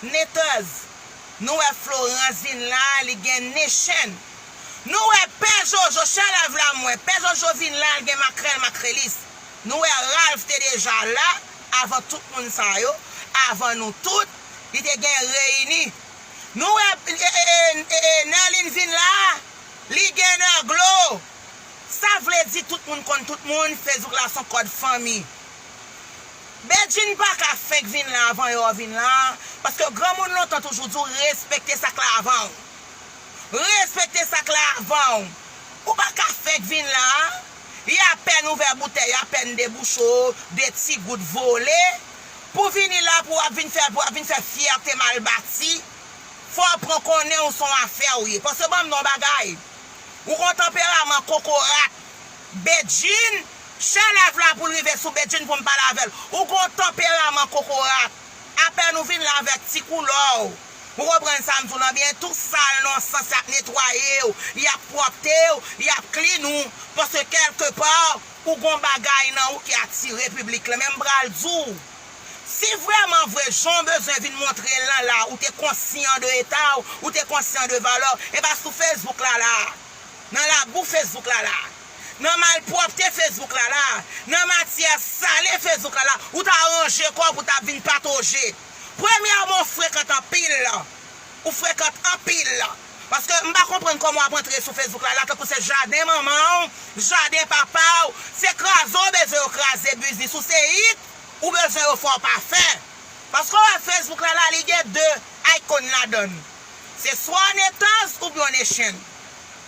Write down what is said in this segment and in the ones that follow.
Nitaz Nou wè Florence vin la li gen nen chen Nou wè pè jojo chalav la mwen pè jojo vin la li gen makrèl makrelis Nou wè Ralph te deja la avan tout moun sa yo avan nou tout li te gen reyini Nou wè Nerline vin la li gen nerglo sa vle di tout moun konn tout moun Facebook la son kòd fanmi. Bedjine paka fenk vin la avan yo vin la paske granmoun lontan toujou di w respekte sak la avan w respekte sak la avan w ou paka fenk vin la y apèn ouvè boutèy y apèn debouche w de ti gout vole pou vini la pou w ap vin fè pou w ap vin fè fyète mal bati fò w pran konnen w son afè w ye paske banm di w yon bagay ou gon tanperaman kokorat Bedjine Chè lèv la poul rive sou Bedjine poum pale avèl ou gon tanperaman kokorat apèn ou vin la avèk ti koulòw ou konprann sam diw lan byen tou sal non sans yap netwayew yap pwòptew yap klin ou paske kèlke pa ou gon bagay nan ou ki atire piblik lan men m pral diw si vrèman vre janw bezwen vin montre lan la ou te konsyan de etaw ou te konsyan de valèw epa sou Facebook la la nan labou Facebook la la. nan malpwòpte Facebook la la, nan matyè sale Facebook la la, ou ta ranje kò w pou ta vin patoje. Premyèman w frekant anpil, ou frekant anpil, paske m pa konprann kòman w ap antre sou Facebook la la tankou se jaden manman w, jaden papa w, se kraze w bezwen yo kraze biznis ou, se it ou bezwen yo fè w pa fè. Paske w wè Facebook la la li gen 2 icon ladan l, se swa w netaz oubyen w nechen.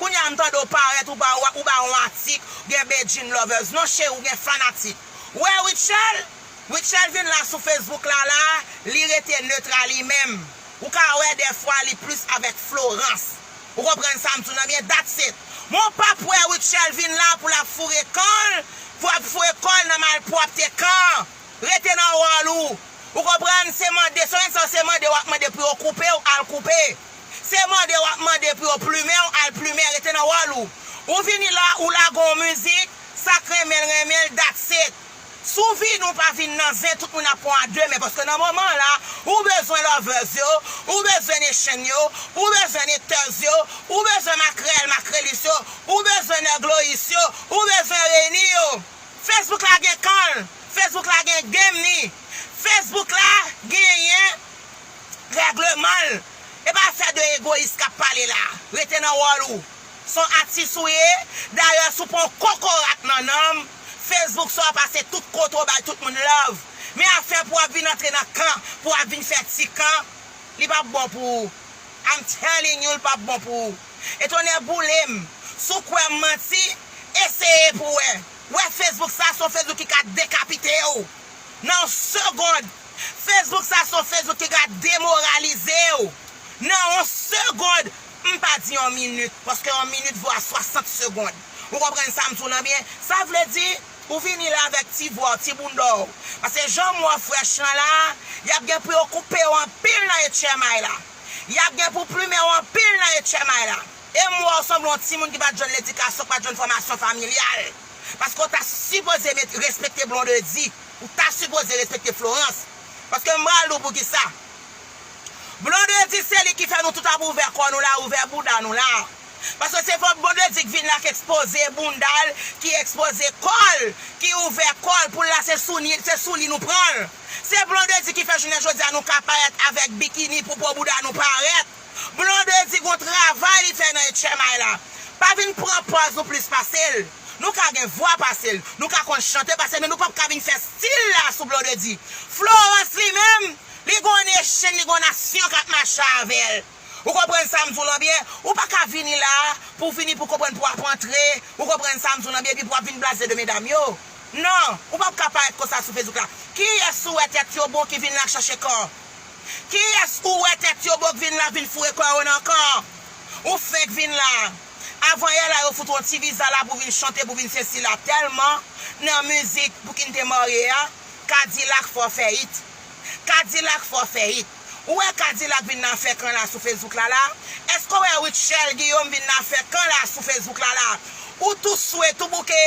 Kounya m tande w parèt ou ba ou ba on atik ou gen Bedjine lovers non cheri ou gen fanatik ou wè Rutshelle Rutshelle vin la sou Facebook la la li rete neutre a li menm ou ka wè dèfwa li plus avèk Florence ou konprann sa m di w nan byen that's it men w pap wè Rutshelle vin la pou l ap foure kan l pou ap foure kò l nan malpwòpte kan rete nan wòl ou ou konprann se mande se w se mande w ap mande pou yo koupe w al koupe. Se mande wap mande pou yo plumenw al plumen rete nan wòl ou. Ou vini la ou lage yon mizik, sak renmenl renmenl that's it. Sou vi nou pa vin nan zen tout moun ap pran a 2 men paske nan moman an la ou bezwen lovers yo, ou bezwen nation yo, ou bezwen necteurs yo, ou bezwen makrèl, makrelis yo, ou bezwen nèg lois yo, ou bezwen reni yo. Facebook la gen kanl, Facebook la gen game ni, Facebook la genyen Règleman l e pa afè de egoyis k ap pale la. Rete nan wòl ou. S on atis ou ye, dayè si w pa yon kokorat nan nanm, Facebook sa w pase tout kote w bay tout moun love. Men afè pou w ap vin antre nan kan, pou w ap vin fè ti kan, li p ap bon pou ou. I'm telling you l p ap bon pou ou. E tonnè boule m, si w kwè m manti, eseye pou w wè. Wè Facebook sa, s on Facebook ki ka dekapite w nan yon segond. Facebook sa son Facebook ki ka demoralize w nan on segond m pa di on minit paske on minit vo a 60 segond ou konprann sa m di w lan byen sa vle di ou vini la avèk ti vwa w ti bounda w paske jan m wè w frèch lan la y ap gen pou yo koupe w anpil nan etchèmay la y ap gen pou plumen w anpil nan etchèmay la e m wè w sanble on timoun ki pa t jwenn ledikasyon ki pa t jwenn fòmasyon familyal paske w ta sipoze met respekte blondedy. Ou ta sipoze respekte Florence. Paske m pral di w poukisa. Blondedy se li ki fè nou tout ap ouvè kò nou la, ouvè bouda nou la. Paske se fòk Blondedy k vin la k ekspoze bounda l, ki ekspoze kò l, ki ouvè kò l pou l la se sou ni, se sou li nou pran l. Se Blondedy ki fè jounen jodi a nou ka parèt avèk bikini pou po bouda nou parèt. Blonde di gon travay li fè nan etchèmay la. Pa vin pran pòz nou plis pase l. Nou ka gen vwa pase l, nou ka konn chante pase l men nou pap ka vin fè stil la sou Blondedy. Florence li menm, li gon nation, li gon nasyon k ap mache avè l. Ou konprann sa m di w lan byen? Ou pa ka vini la a pou w vini pou w konprann pou w ap antre, ou konprann sa m di w lan byen, epi pou w ap vin blaze de medam yo. Non, ou pap ka parèt konsa sou Facebook la. Kiyès ou wè tèt yo bon ki vin la k chache kò? Kiyès ou wè tèt yo bo k vin lavil foure kò yo nan kan an? Ou fenk vin la. Avan yè la yo fout ou yon ti viza la pou vin chante pou vin sesila tèlman nan mizik Pouki n te marye a, Kadilak fè w fè it. Kadilak fè w fè it. Ou wè Kadilak vin nan fè kan la sou fesbouk la la? Èske w wè Rutshelle Guillaume vin nan fè kan la sou fesbouk la la? Ou tou swe, tou bouke.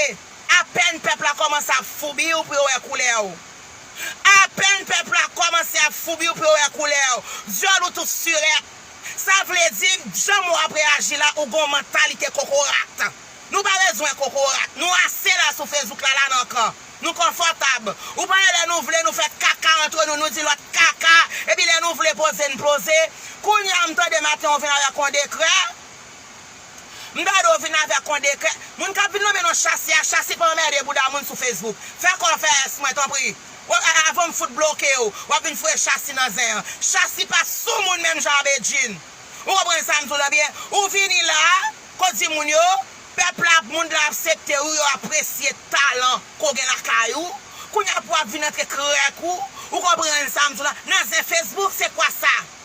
Apèn pèp la kòmanse ap foubi w pou yo wè koulè w. Apèn pèp la kòmanse ap foubi ou pe wè koulèw dyòl ou tout surèt sa vle di janm ou ap reyaji la ou gon mantalite kokorat nou pa bezwen kokorat nou ase la sou Facebook la la nan kan nou konfòtab ou pale lè nou vle nou fè kaka antre nou nou di lòt kaka epi lè nou vle poze n poze kounya m tande maten ou vin avèk yon dekrè M gade w vin avèk on dekrè. Moun kap vin nonmen non chasi a chasi pa anmède bouda moun sou Facebook. Fè kò w fè S mwen tanpri. Wap a avan m fout bloke w wap vin foure chasi nan zen an. Chasi pa sou moun menm jan a Bedjine. Ou konprann sa m di w lan byen. Ou vini la ko di moun yo pèp la ap mond lan apsepte ou yo apresye talan ke w gen lakay ou. Kounya pou wap vin antre krèk ou. Ou konprann sa m di w lan. Nan zen Facebook se kwa sa.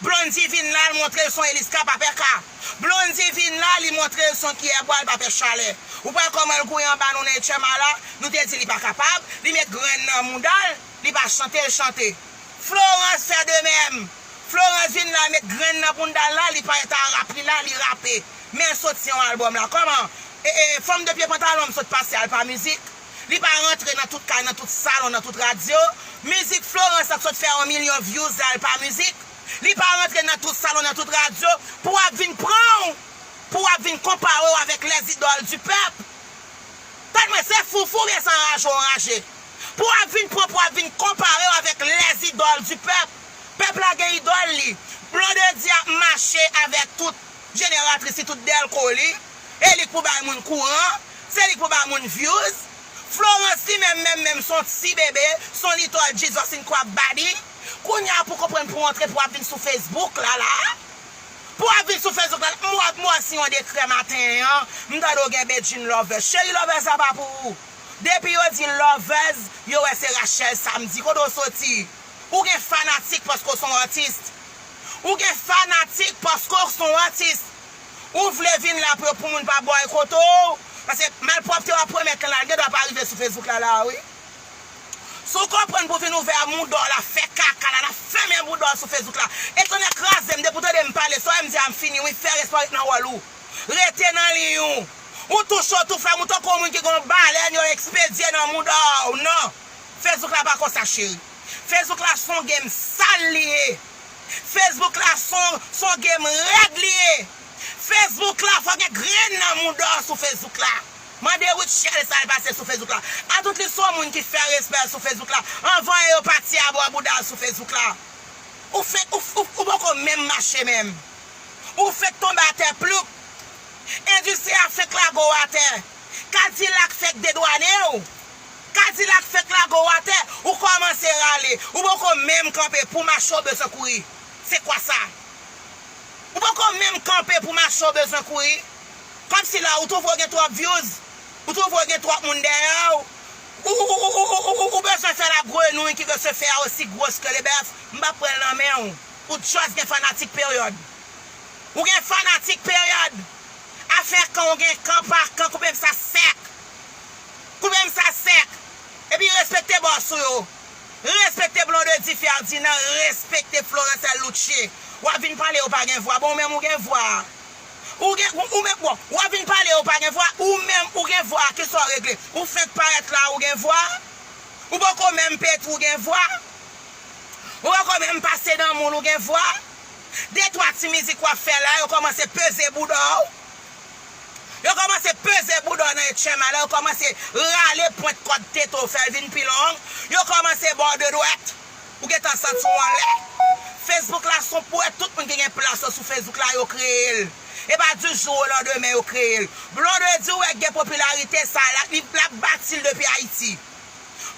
Blondy vin la l montre l son Eliska pa pè ka Blondy vin la li montre l son kiyè bwa l pa pè chalè Ou pral kòman l kouri anba nou nan etchèma la Nou te di li pa kapab Li met grenn nan mouda l Li pa chante l chante Florence fè de mèm Florence vin la met grenn nan bounda l la li pale ta rap li la li rape Men l soti yon albòm la kòman Ee fanm de pye pantalon m sot pase al pa mizik. Li pa rantre nan tout kay, nan tout salon, nan tout radyo. Mizik Florence la k sot fè 1 milyon views la l pa mizik? Li pa rantre nan tout salon, nan tout radyo pou ap vin pran w, pou ap vin konpare w avèk les idoles du peuple. Tande mwen, se foufou oubyen se anraje w anraje? Pou ap vin pran, pou ap vin konpare w avèk les idoles du peuple. Pèp la gen idòl li. Blondedy ap mache avèk tout jeneratris li, tout dèlko li. e li k pou bay moun kouran, se li k pou bay moun vyouz, Florence li menm menm menm son ti bebe, son little Jesus in crab body, kounya pou konprann pou antre pou ap vin sou Facebook la la, pou ap vin sou Facebook la la, m wè m wè si yon dekrè maten an, m tande w gen Bedjine Lovers, cheri Lovers la pa pou ou, depi yo di Lovers, yo wè se Rachel Samedi, kote w soti, ou gen fanatik paske w son artiste, ou gen fanatik paske w son artiste, Ou vle vin la pou yo pou moun pa bòykote w? Paske malpwòpte w ap pwomèt lan la, li gen dwa pa rive sou Facebook la la a wi. Si w konprann pou w vin ouvè mouda w la, fè kaka la, nan fèmen bouda w sou Facebook la. E tonnè kraze m, depi w tande m pale, sa w wè m di a m fini wi, fè respè w ret nan wòl ou. Rete nan liy ou. Ou tou cho tou fre, ou tankou yon moun ki gen yon balèn yo ekspedye nan mouda w. Non! Facebook la pa konsa cheri. Facebook la son game sal li ye. Facebook la son son game rèd li ye Facebook la fò gen grenn nan mouda w sou Facebook la mande Rutshelle sa l pase sou Facebook la atout li son moun ki fè respè l sou Facebook la anvan e yo pati a bò bouda l sou Facebook la ou fenk ou ou ou poko menm mache menm ou fenk tonbe atè ploup endistri a fenk lago w atè Cadillac fenk dedwane w. Kadilak fenk lage w atè, ou kòmanse rale, ou poko menm kanpe pou mache w bezwen kouri. Se kwa sa? Ou poko menm kanpe pou mache w bezwen kouri. Kòmsi la ou twouve w gen twòp vyouz, ou twouve w gen twòp moun dèyè w, ou bezwen fè la grenouy ki veut se faire aussi grosse que le bœuf, m pa pran l nan men w, ou just gen fanatik period. Ou gen fanatik period. Afè kan w gen kan pa kan koupe m sa sèk. Kouvem sa sèk Epi respekte boss ou yo Respekte Blondedy Ferdinand Respekte Florence El Luce Wap vin pale yo pa gen vwa bon ou menm ou gen vwa Ou gen ou menm bon Wap vin pale yo pa gen vwa ou menm ou gen vwa kisa w regle Ou fenk parèt la ou gen vwa Ou poko menm pete ou gen vwa Ou poko menm pase nan moun ou gen vwa De twa ti mizik wap fè la yo kòmanse peze bouda w Yo kòmanse peze bouda w nan yon tchè malè, yo kòmanse rale pwent kòd tete w fè l vin pi long, yo kòmanse ba w de dwèt, ou gen tan santi w anlè. Facebook la s on pouwèt tout moun ki gen plas yo sou Facebook la yo kreye l. E pa di jou o landemen yo kreye l. Blondedy wè k gen popilarite sa l, li, l ap bati l depi Ayiti.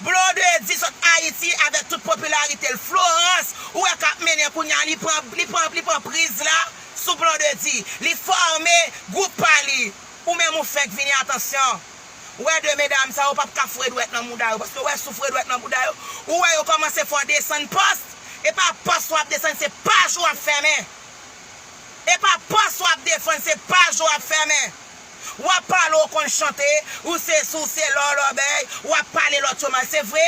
Blondedy sot Haiti avek tout popularité l Florence ou wè kap mennen kounya li pran li pran li pran priz la sou Blondedy li forme group pa li ou menm ou fenk vini atansyon ou wè 2 medam sa yo pap ka foure dwèt nan mouda yo paske ou wè si w foure dwèt nan mouda yo ou wè yo komanse fè w desann post e pa post wap desann se paj ou ap fèmen e pa post wap defann se paj ou ap fèmen. Wap pale ou konn chante, ou sesi ou sela ou lòbèy, wap pale lòt yo mal se vre,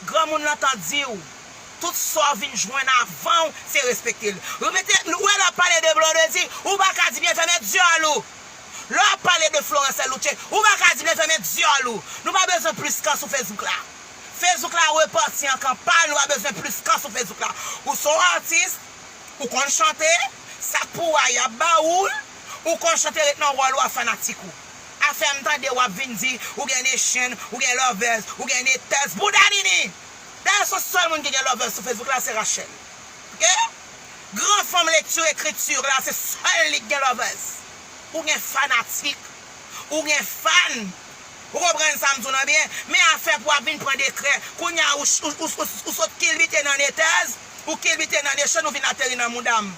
granmoun lan tan diw, tout saw vin jwenn avanw se respektel. Remete, nou wè lè wap pale de Blondedy, ou paka di byen fèmen dyòl ou. Lè wap pale de Florence Louche, ou paka di byen fèmen dyòl ou. Nou pa bezwen plis kan sou Facebook la. Facebook la repanti an kan pal, nou pa bezwen plis kan sou Facebook la. Ou son artiste, ou konn chante, sak pou wa yap ba oul. Ou konchante ret nan wòl ou a fanatik ou a fèm tande wap vin di ou gen nation ou gen lovers ou gen haters bouda nini dayè son sèl moun ki gen lovers sou facebook la se Rachelle ok gran fanm lecture écriture la se sèl li ki gen lovers ou gen fanatik ou gen fan ou konprann sam di w lan byen men afè pou wap vin pran dekrè kounya ou sot kilbite nan haters ou kilbite nan nation ou vin ateri nan moudam.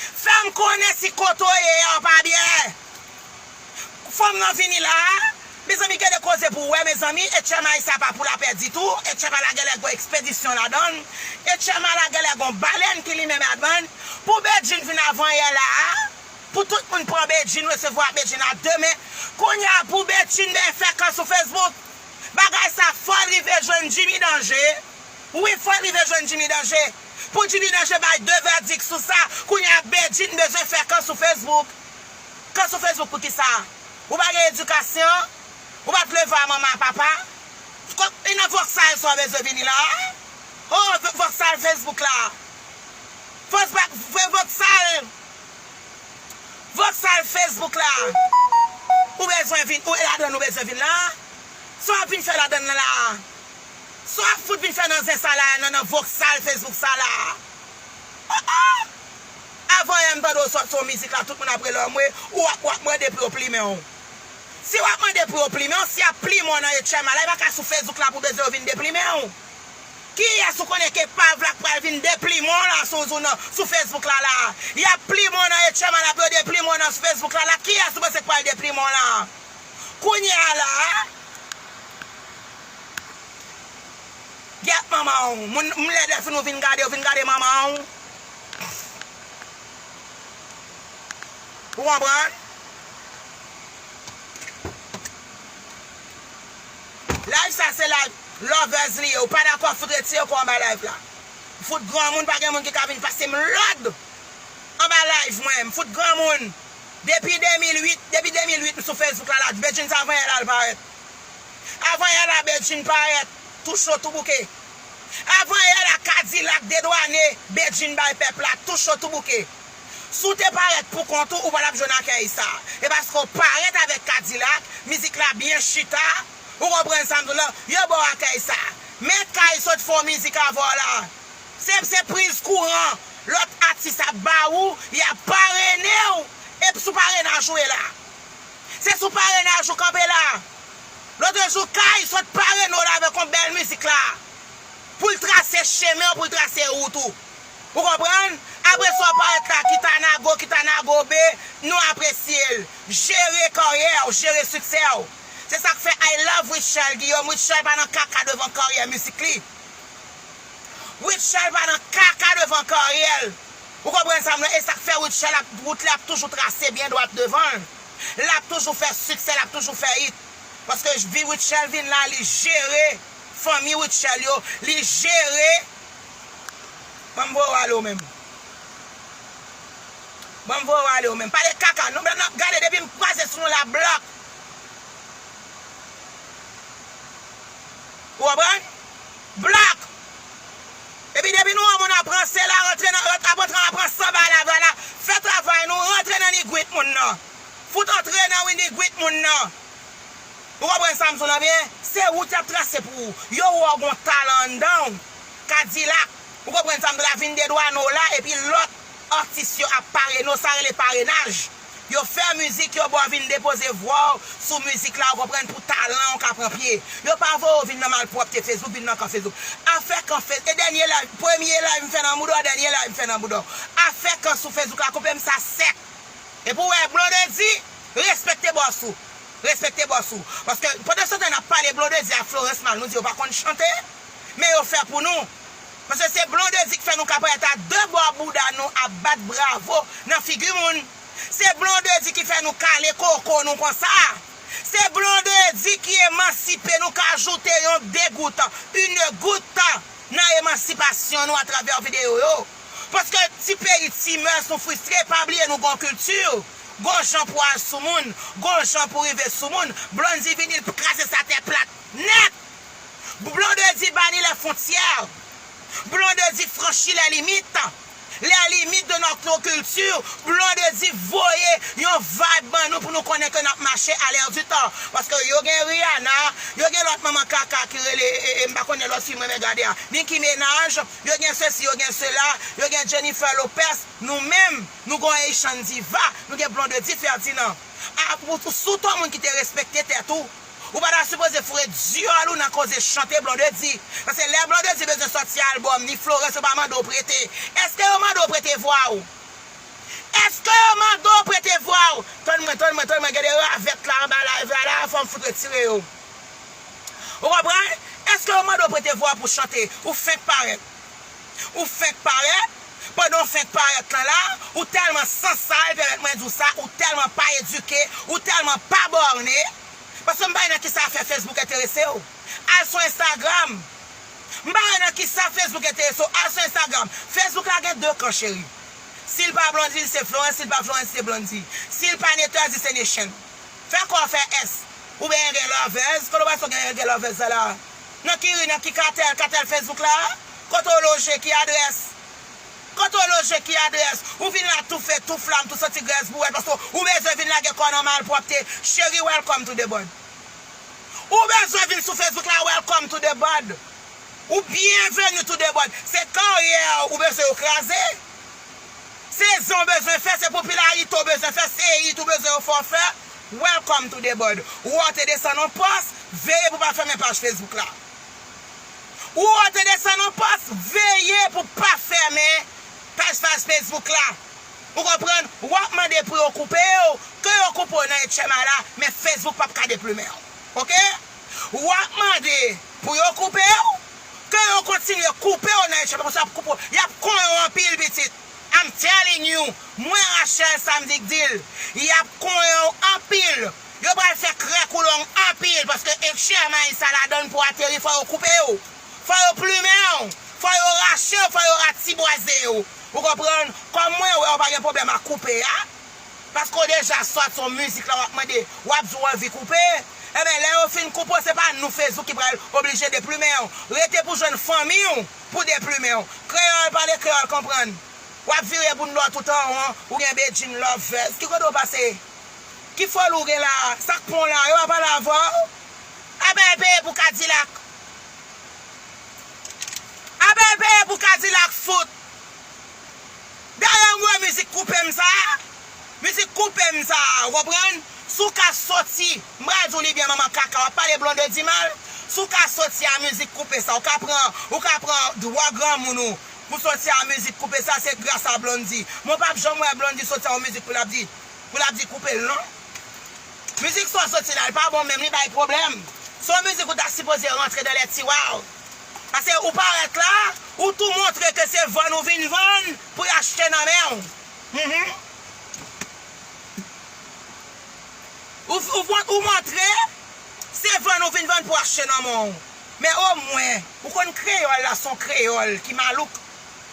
Fèm konnen si kote w ye a pa byen Fanm nan vini la a Mezanmi gen de koze pou wè mezanmi Etchema sa pa pou lapè ditou Etchema la genlè gon ekspedisyon ladan l Etchema la genlè gon balèn ki limen ladan l Pou Bedjine vin avan yè la a Pou tout moun pran Bedjine resevwa Bedjine a de men Kounya pou Bedjine byen fè kan sou Facebook Bagay sa fò l rive jwenn Jimmy Danje Wi fò l rive jwenn Jimmy Danje. Pou Jimmy Naje bay 2 vèdik sou sa, kounye a Bedjine bezwen fè kan sou Facebook. Kan sou Facebook pou kisa? Ou pa gen edikasyon? Ou pa t leve a manman a papa? E nan vok sa yo sa w bezwen vini la a? Oh vok sal Facebook la. Vok sal Vok sal Facebook la ou bezwen vin, e ladann ou bezwen vin la a? Sa w ap vin fè ladann nan la a? Sa wap fout vin fè nan zen sa la a nan nan voksal Facebook sa la a oh oh Avan yè m tande w sòt sou yon mizik la tout moun ap rele w anmwe ou wap wap mande pou yo plimen w Si wap mande pou yo plimen w si yap plimen w nan Etchyma la e pa ka sou Facebook la pou bezwen yo vin deplimen w Kiyès ou konnen ke pav la k pral vin deplimen w la sou nan sou Facebook la la a Yap plimen w nan Etchyma la pou yo deplimen w nan sou Facebook la la a Kiyès ou panse k pral deplimen w la a Kounye a la a Gyèt manman w moun m lè dèfin ou fin gade ou fin gade manman w ou konprann live sa se live lovers li ye ou pa dakò fout retire kò w anba live la m fout granmoun pa gen moun ki ka vin pase m lòd anba live mwen m fout granmoun depi 2008 depi 2008 m sou facebook la la djbedjine sa vanyan la l parèt. Avan yè la Bedjine parèt tou cho tou bouke Avan yè la Kadilak dedwane Bedjine bay pèp la tou cho tou bouke Si w te parèt pou kont ou ou pa t ap jwenn akèy sa E paske w parèt avèk Kadilak mizik la byen chita Ou konprann sa m di w la Yo ba w akèy sa Mèt kay sot fè w mizik avè w la Se se priz kouran lòt atis ap ba ou Y ap parene w ep sou parenaj ou e la. Se sou parenaj ou kanpe la. Lotre jou Kay sot parene w la avèk yon bèl mizik la. Pou l trase chemen w, pou l trase wout ou. Ou konprann? Apre sa w parèt la kit a nago, kit a nagobe, nou apresye l. Jere karyè w, jere siksè w. Se sa k fè I love Rutshelle Guillaume. Rutshelle pa nan kaka devan karyè mizik li. Rutshelle pa nan kaka devan karyè l. Ou konprann sa m la? E sa k fè Rutshelle ap wout li ap toujou trase byen dwat devan l. L ap toujou fè siksè, l ap toujou fè it. Paske vi Rutshelle vin la, li jere fanmi Rutshelle yo, li jere Ban m voye w ale w menm Ban m voye w ale w menm Pale kaka non Blan nan Gade depi m kwaze sou nou l ap blòk Ou konprann? Black! Epi depi nou wè moun ap ranse la rantre nan ant ap rantre an ap ranse anba lava la fè travay nou rantre nan nigwit moun nan fout antre nan wi nigwit moun nan ou konprann sam sou lan byen se wout yap trase pou ou yo wè w gon talan anndanw kadilak ou konprann sam sou la vin de dwano la epi lòt atis yo ap parene w sa rele parenaj. Yo fè mizik yo ba w vin depoze vwa w sou mizik la ou konprann pou talan w ka pran pye. Yo pa voye w vin nan malpwòpte Facebook, vin nan kan Facebook. Afè kan Face e dènye live, premye live m fè nan bouda w, dènye live m fè nan bouda w. Afè kan sou Facebook la koupe m sa sèk. Epi ou wè Blondedy respekte bòs ou. Respekte bòs ou. Paske pandanstan tan n ap pale Blondedy ak Florence mal nou di yo pa konn chante. Men yo fè pou nou. Pase se blondedy k fè nou kaprèt a de bò bouda nou ap bat bravo nan figi moun se blondedy ki fè nou kale koko nou konsa se blondedy ki emansipe nou ka ajoute yon degout une goutte nan emansipasyon nou atravè video yo paske ti peyi ti mœurs nou fristre pa bliye nou gon kilti gon jan pou al sou moun gon jan pou rive sou moun blondy vini l kraze sa tè plat nèt. Blondedy bani lè fontyè, Blondedy franchi lè limit, lè limit de notre culture, Blondedy voye yon vibe ban nou pou nou konnen ke nap mache a l'air du temps. Paske yo gen Rihanna, yo gen lòt manman kaka ki rele e m pa konnen lòt fi m renmen gade a, Nicki Ménaj, yo gen sesi, yo gen sela, yo gen Jennifer Lopez, nou menm nou gen yon Haitian Diva, nou gen Blondedy Ferdinand. A pou sou ton moun ki te respekte tèt ou. Ou pa ta sipoze foure dyòl ou nan koze chante Blondedy. Pase lè Blondedy bezwen sòti album ni Florence yo pa mande w prete. Eske yo mande w prete vwa w? Eske yo mande w prete vwa w? Tann mwen, tann mwen, tann mwen gen de ravèt la anba live la la fò m fout retire yo. Ou konprann? Eske yo mande w prete vwa w pou chante? Ou fenk parèt. Ou fenk parèt, pandan w fenk parèt lan la, ou tèlman san sal, pèmèt mwen di w sa, ou tèlman pa edike, ou tèlman pa bòne, paske m pa wè nan kisa afè Facebook enterese w. Al sou Instagram. M pa wè nan kisa Facebook enterese w, al sou Instagram. Facebook la gen 2 kan cheri. Si l pa Blondy li se Florence, si l pa Florence li se Blondy. Si l pa Neters li se Nation. Fè kò w fè S. Ou benyen gen lovers, kote w wè sa w genyen gen lovers la la? Nan ki ri, nan ki katèl, katèl Facebook la a? Kote w loje, ki adrès? Kote w loje, ki adrès? Ou vin la toufe, tou flam, tou santi grès bouwèt paske ou bezwen vin lage kò nan malpwòpte. Cheri, welcome to the bud. Ou bezwen vin sou Facebook la, welcome to the bud. Ou byenveni to the bud. Se karyè ou bezwen yo kraze? Se zen w bezwen fè, se popilarite w bezwen fè, se it ou bezwen yo fè w fè? Welcome to the board Ou ote desann on pòs Veye pou pa fèmen paj Facebook la Ou ote desann on pòs Veye pou pa fèmen paj faj Facebook la Ou konprann Ou ap mande pou yo koupe w Ke yo koupe w nan etchema la Men Facebook pap ka deplumen w Ok Ou ap mande pou yo koupe w Ke yo kontinye koupe w nan etchema Paske yo ap koupe w Yap konyen w anpil pitit I'm telling you mwen Rachelle sa m di k dil yap konyen w anpil yo pral fè krèk ou long anpil paske ekchè mayi sa ladann pou ateri fò yo koupe w fò yo plumen w fò yo rache w fò yo ratibwaze w ou konprann kòm mwen wè w pa gen pwoblèm ak koupe a paske w deja sòt son mizik la wap mande wap di w anvi koupe enben lè yo fin koupe w se pa nou fezou ki pral oblije deplumen w rete pou jwenn fanmi w pou deplumen w. Kreyòl pale kreyòl konprann. W ap vire boun do a tout an won, ou gen Bedjine Lovez. Ki kote w pase? Ki foli w gen la a? Sa k pran w la a? Yo pa pale avè w? Abèy peye pou kadilak! Abèy peye pou kadilak fout! Dayè m wè mizik koupe m sa a, mizik koupe m sa a, ou konprann, Souka soti, m pral di w li byen manman kaka, w ap pale Blondedy mal, Souka soti a mizik koupe sa, ou ka pran, ou ka pran dwa granmoun ou pou soti a mizik koupe sa, se gras a Blondy. Men w pap janm wè Blondy soti a yon mizik pou l ap di, pou l ap di koupe l non. Mizik sa w soti la, l pa bon menm, li bay pwoblèm. Se yon mizik ou ta sipoze rantre dan lè tiwa w, Pase ou parèt la, ou tou montre ke se vann ou vin vann pou y achte nan men ou. Ou montre se vann ou vin vann pou achte nan men ou. Men omwen, ou konn kreyòl la s on kreyòl ki malouk,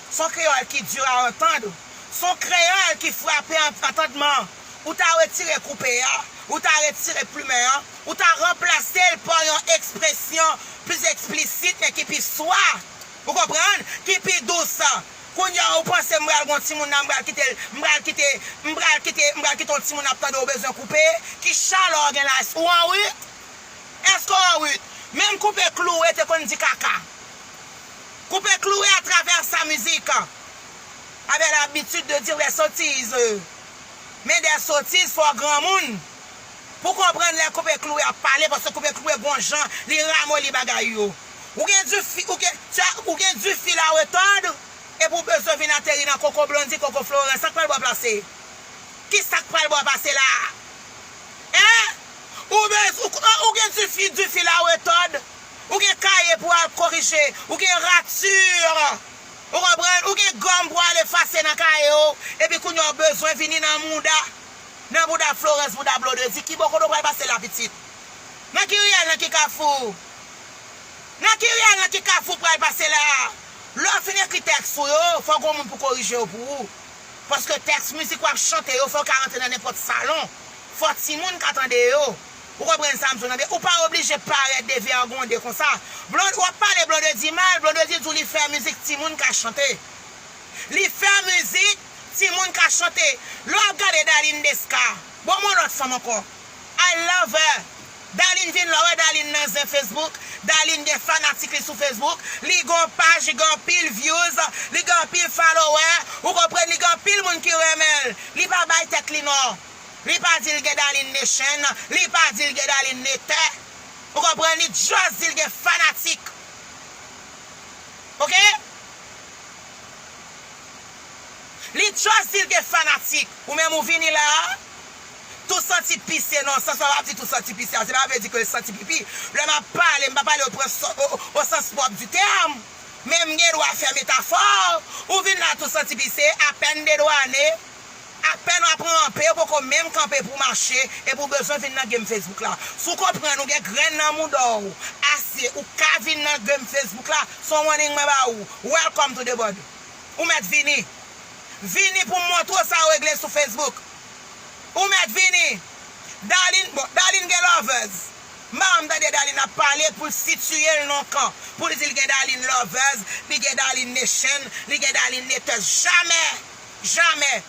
s on kreyòl ki di a antand, s on kreyòl ki frape antandman. Ou ta retire koupe a, ou ta retire plumen an, ou ta ranplase l pa yon ekspresyon plis eksplisit men ki pi swa. Ou konprann? Ki pi dous. Kounye a ou panse m pral gen yon timoun la m pral kite l, m pral kite, m pral kite, m pral kite yon timoun ap tande ou bezwen koupe? Ki chalè w gen la? Èske ou anrut? Èske ou anrut? Menm koupe kloure te konn di kaka. Koupe kloure atravè sa mizik. Avè labitid de dire bèsotiz. Men de sotiz fo granmoun Pou konprann lè koupe kloue ap pale paske koupe kloue gon jan li ramoli bagay yo Ou gen du fil ou gen tu as ou gen du fil à retordre epi ou bezwen vin ateri nan koko Blondie koko Florent sak pral bo a plase Ki sak pral bo a pase la Hein Ou bez ou ou gen du fil du fil à retordre ou gen kaye pou al korije ou gen rature Ou konprann? Ou gen gòm pou al efase nan kaye w, epi kounye a w bezwen vini nan mouda, nan bouda Florence, bouda Blondedy. Ki bò kote w pral pase la pitit? Nan ki riyèl, nan ki kafou? Nan ki riyèl, nan ki kafou w pral pase la? Lè w fin ekri tèks ou yo, fò gon moun pou korije yo pou ou. Paske tèks mizik w ap chante yo fò ka rantre nan nenpòt salon. Fò timoun ka tande yo. Ou konprann sam di w lan byen, ou pa oblije parèt devègonde konsa. Blond wap pale Blondedy mal, Blondedy di w li fè mizik timoun ka chante. Li fè mizik timoun ka chante. Lè wap gade Darline Desca, bon m'en lòt fanm ankò. I love her. Darline vin lè wè Darline nan zen Facebook, Darline gen fanatik li sou Facebook, li gen yon paj li gen anpil views, li gen anpil followers, ou konprann li gen anpil moun ki renmen l, li pa bay tèt li non. Li pa di l gen Darline de chen, li pa di l gen Darline de tè. Ou konprann? Li just di l gen fanatik. Ok? Li just di l gen fanatik. Ou menm ou vini la a, tou santi pise nan sans mwen pa di tou santi pise a, se pa vle di ke l santi pipi. Lè m ap pale, m pa pale o sans pwòp di tèm, men m gen dwa fè metafò. Ou vin la tou santi pise, apèn dedwane. Apèn wap ranpe ou poko menm kanpe pou mache epi ou bezwen vin nan game Facebook la. Si w konprann ou gen grenn nan mouda w ase ou ka vin nan game Facebook la se yon warning mwen ba ou Welcome to the body Ou mèt vini Vini pou m montre w sa ou regle sou Facebook Ou mèt vini Darline bon Darline gen lovers m pa janm tande Darline ap pale pou l sitiye l nan yon kan pou l di l gen Darline lovers li gen Darline nation li gen Darline neteuse Jamè Jamè.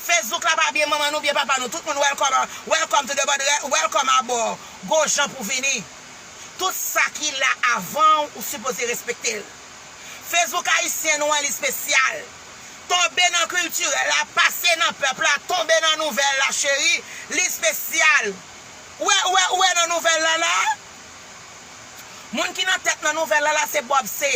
Facebook la pa byen manman nou byen papa nou tout moun welcome welcome to the body welcome abor go jan pou vini tout sa ki la avanw ou sipoze respektel Facebook ayisyen nou an li spesyal tonbe nan kiltirèl la pase nan pèp la tonbe nan nouvèl la cheri li spesyal ou wè ou wè ou wè nan nouvèl la la moun ki nan tèt nan nouvèl la la se Bob se.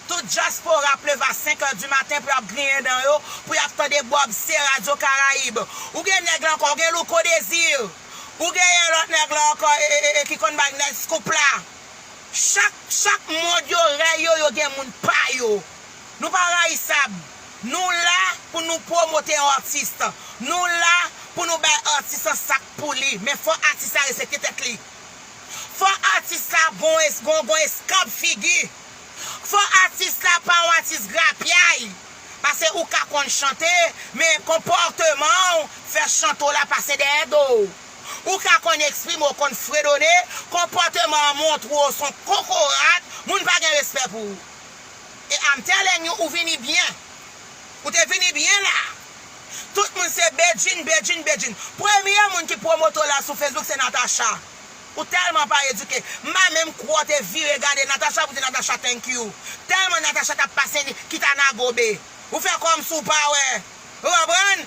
Tout dyaspora ap leve a 5 heures du matin pou yap griyen dan yo, pou yap tande Bob C Radio Caraïbe. Ou gen nèg la ankò, ou gen Louko Désir, ou genyen lòt nèg la ankò e ki konn bay nèg scoop la. Chak, chak mond yo rèy yo, yo gen moun pa yo. Nou pa rayisab. Nou la pou nou pwomote yon artiste. Nou la pou nou bay artiste lan sak pou li. Men fò artiste la respekte tèt li. Fò artiste la gon, gon eskanp figi. Fò atis la pa yon atis grapyay, pase ou ka konn chante, men konpòteman w fè chante w la pase dèyè do w. Ou ka konn eksprime w, konn fredone, konpòteman an montre w s on kokorat, moun pa gen respè pou ou. E I'm telling you ou vini byen. Ou te vini byen la. Tout moun se Bedjine, Bedjine, Bedjine. Premye moun ki pwomote w la sou Facebook se Natacha. Ou telman pa eduke. M pa menm kwè w te vire gade Natacha pou di Natacha thank you. Telman Natacha tap pase li kita nan gobe. Ou fè komsi w pa wè. Ou konprann?